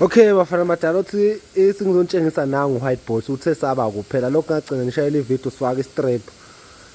Okay bafana madala uthi isingizonitshengisa nangu white boss uthe saba kuphela lokho ngagcina ngishayela ivideo sifaka istrip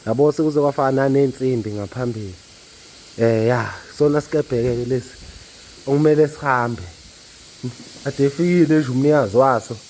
yabo sekuze kwafaka nanensimbi ngaphambili eh ya sona sikebheke ke lesi okumele sihambe ade efikile nje umnikazi waso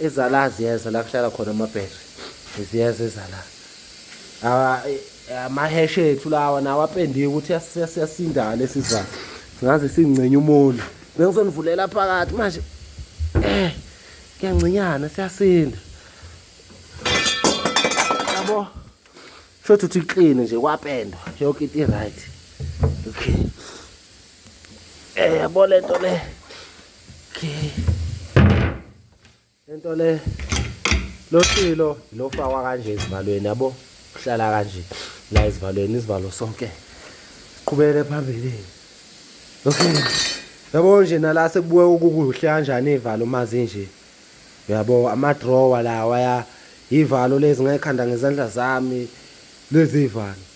ezala ziyeza la kuhlala khona amabhetri ziyeza ezala amaheshi ethu lawa nawo apendiwe ukuthi siyasinda lesi sivalo singaze singcinye umona bengizonivulela phakathi manje eh kuyangcinyana siyasinda yabo shothi uthi clean nje kwapendwa yonke into i-right okay Eh yabo lento le. Okay. Lento le lo silo lo fakwa kanje izivalweni yabo uhlala kanje la izivalweni izivalo sonke qhubele phambili okay yabo nje nala sekubuye ukukuhle kanjani ivalo uma zinje uyabo ama drawer lawa ya ivalo lezi ngekhanda ngezandla zami lezi ivalo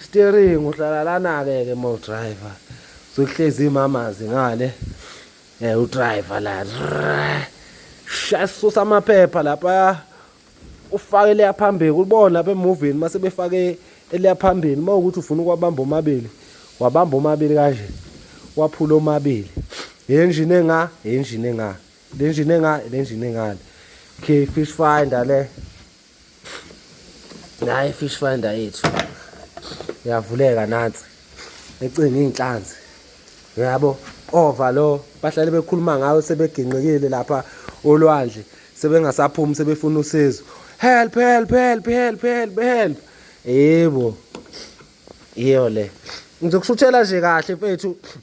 Steering uhlala lana ke ke mo driver. Sokuhlezi imamazi ngale. Eh u driver la. Shasusa amaphepha lapha. Ufake leya phambili kubona lapha emovini mase befake eleya phambili uma ukuthi ufuna ukwabamba omabili wabamba omabili kanje waphula omabili engine enga engine enga le engine enga le engine engale okay fish finder le naye fish finder yethu yavuleka nansi ecinga iy'nhlanzi yabo ova lo bahlale bekhuluma ngayo sebeginqikile lapha olwandle sebengasaphumi sebefuna usizo help help help help help help yebo iyo le ngizokushuthela nje kahle mfethu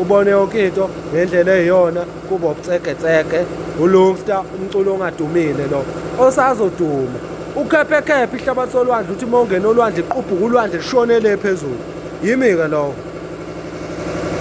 ubone yonke into ngendlela eyiyona kuba ubucegecege ulungsta umculo ongadumile lo osazoduma ukhephekhephe ihlabathi solwandle uthi uma ungena olwandle iqubhuka ulwandle lishonele phezulu yimi-ke lowo